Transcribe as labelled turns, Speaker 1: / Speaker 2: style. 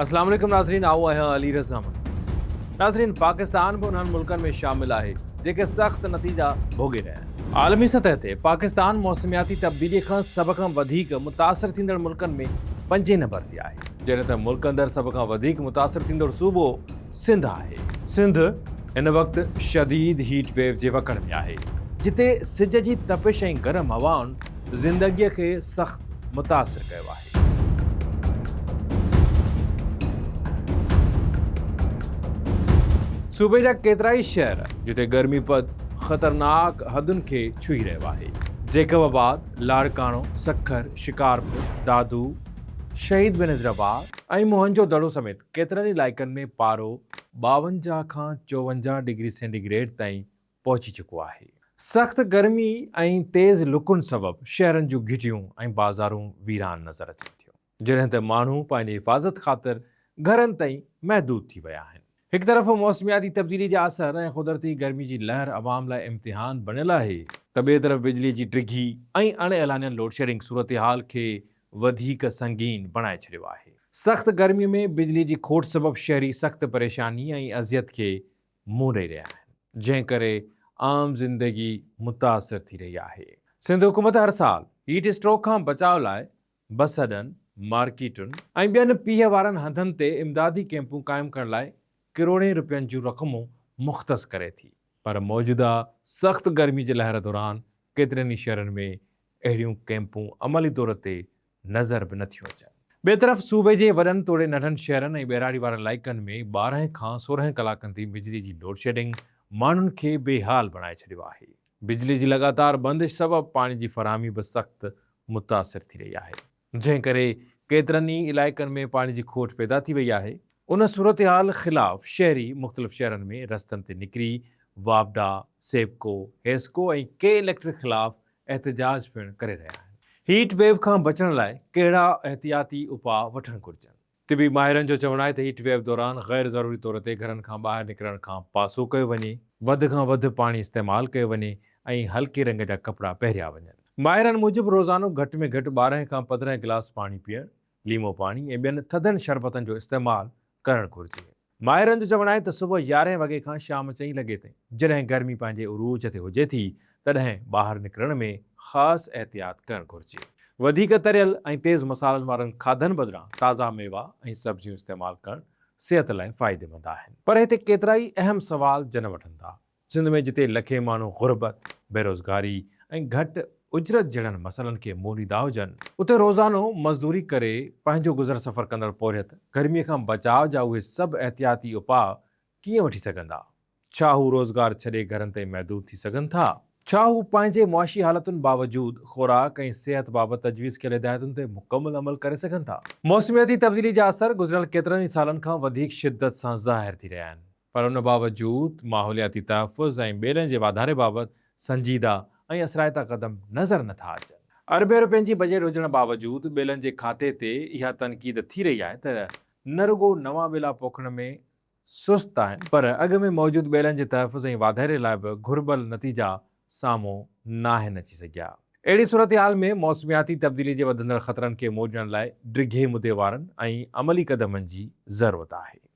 Speaker 1: اسلام عليڪم ناظرين آئون آهيان علي رضا مٺو ناظرين پاڪستان به انهن ملڪن ۾ شامل آهي جيڪي سخت نتيجا ڀوڳي رهيا آهن عالمي سطح تي پاڪستان موسمياتي تبديلي کان سڀ کان وڌيڪ متاثر ٿيندڙ ملڪن ۾ پنجين نمبر تي آهي. جڏهن ته ملڪ اندر سڀ کان وڌيڪ متاثر ٿيندڙ صوبو سنڌ آهي. سنڌ هن وقت شديد هيٽ ويو جي وڪڙ ۾ آهي، جتي سج جي تپش ۽ گرم هوائن زندگيء کي سخت متاثر ڪيو آهي. صوبي جا ڪيترائي شهر جتي گرمي پد خطرناڪ حدن کي ڇهي رهيو آهي. جيڪب آباد، لاڙڪاڻو، سکر، شڪارپور، دادو، شهيد بينظير آباد ۽ موهن جو دڙو سميت ڪيترن ئي علائقن ۾ پارو ٻاونجاهه کان چوونجاهه ڊگري سينٽي گريڊ تائين پهچي چڪو آهي. سخت گرمي ۽ تيز لڪن سبب شهرن جون گهٽيون ۽ بازارون ويران نظر اچن ٿيون، جڏهن ته ماڻهو پنهنجي حفاظت خاطر گهرن تائين محدود ٿي ويا آهن. هڪ طرف موسمياتي تبديلي جا اثر ۽ قدرتي گرمي جي لهر عوام لاء امتحان بڻيل آهي، ته ٻئي طرف بجلي جي ڊگهي ۽ اڻ اعلانيل لوڊشيڊنگ صورتحال کي وڌيڪ سنگين بڻائي ڇڏيو آهي. سخت گرمي ۾ بجلي جي کوٽ سبب شهري سخت پريشاني ۽ اذيت کي منهن ڏئي رهيا آهن، جنهن ڪري عام زندگي متاثر ٿي رهي آهي. سنڌ حڪومت هر سال هيٽ اسٽروڪ کان بچاء لاء بس اڏن، مارڪيٽن ۽ ٻين پيهه وارن هنڌن تي امدادي ڪيمپون قائم ڪرڻ لاء ڪروڙين رپين جون رقمون مختص ڪري ٿي، پر موجوده سخت گرمي جي لهر دوران ڪيترن ئي شهرن ۾ اهڙيون ڪئمپون عملي طور تي نظر به نه ٿيون اچن. ٻئي طرف صوبي جي وڏن توڙي ننڍن شهرن ۽ ٻهراڙي وارن علائقن ۾ ٻارهن کان سورهن ڪلاڪن تي بجلي جي لوڊشيڊنگ ماڻهن کي بي حال بڻائي ڇڏيو آهي. بجلي جي لڳاتار بندش سبب پاڻي جي فراهمي به سخت متاثر ٿي رهي آهي. جنهن ڪري ڪيترن ئي علائقن ۾ پاڻي جي کوٽ پيدا ٿي وئي آهي، ان صورتحال خلاف شهري مختلف شهرن ۾ رستن تي نڪري واپڊا، سيپڪو، حيسڪو ۽ ڪي اليڪٽرڪ خلاف احتجاج پڻ ڪري رهيا آهن. هيٽ ويو کان بچڻ لاء ڪهڙا احتياطي اپاء وٺڻ گهرجن؟ طبي ماهرن جو چوڻ آهي ته هيٽ ويو دوران غير ضروري طور تي گهرن کان ٻاهر نڪرڻ کان پاسو ڪيو وڃي، وڌ کان وڌ پاڻي استعمال ڪيو وڃي ۽ هلڪي رنگ جا ڪپڙا پهريا وڃن. ماهرن موجب روزانو گهٽ ۾ گهٽ ٻارهن کان پندرهن گلاس پاڻي پيئڻ، ليمو پاڻي ۽ ٻين ٿڌن شربتن جو استعمال ڪرڻ گهرجي. ماهرن جو چوڻ آهي ته صبح يارهين وڳي کان شام چئين لڳي تائين جڏهن گرمي پنهنجي عروج تي هجي ٿي تڏهن ٻاهر نڪرڻ ۾ خاص احتياط ڪرڻ گهرجي. وڌيڪ تريل ۽ تيز مصالحن وارن کاڌن بدران تازا ميوا ۽ سبزيون استعمال ڪرڻ صحت لاء فائديمند آهن. پر هتي ڪيترائي اهم سوال جنم وٺن ٿا. سنڌ ۾ جتي لکين ماڻهو غربت، بيروزگاري ۽ گهٽ اجرت جهڙن مسئلن کي موليدا هجن، اتي روزانو مزدوري ڪري پنهنجو گذر سفر ڪندڙ پورهيت گرمي کان بچاء جا اهي سڀ احتياطي اپاء ڪيئن وٺي سگهندا؟ ڇا هو روزگار ڇڏي گهرن تائين محدود ٿي سگهن ٿا؟ ڇا هو پنهنجي معاشي حالتن باوجود خوراڪ ۽ صحت بابت تجويز ڪيل هدايتن تي مڪمل عمل ڪري سگهن ٿا؟ موسمياتي تبديلي جا اثر گذريل ڪيترن ئي سالن کان وڌيڪ شدت سان ظاهر ٿي رهيا آهن. پر ان باوجود ماحولياتي تحفظ ۽ ٻيلن جي واڌاري بابت سنجيده ۽ اثرائتا قدم نظر نه ٿا اچن. اربين رپين جي بجيٽ هجڻ باوجود ٻيلن جي کاتي تي اها تنقيد ٿي رهي آهي ته نه رڳو نوان ٻيلا پوکڻ ۾ سست آهن پر اڳ ۾ موجود ٻيلن جي تحفظ ۽ واڌاري لاء به گهربل نتيجا سامهون ناهن اچي سگهيا. اهڙي صورتحال ۾ موسمياتي تبديلي جي وڌندڙ خطرن کي مورجڻ لاء ڊگهي مدي وارن ۽ عملي قدمن جي ضرورت آهي.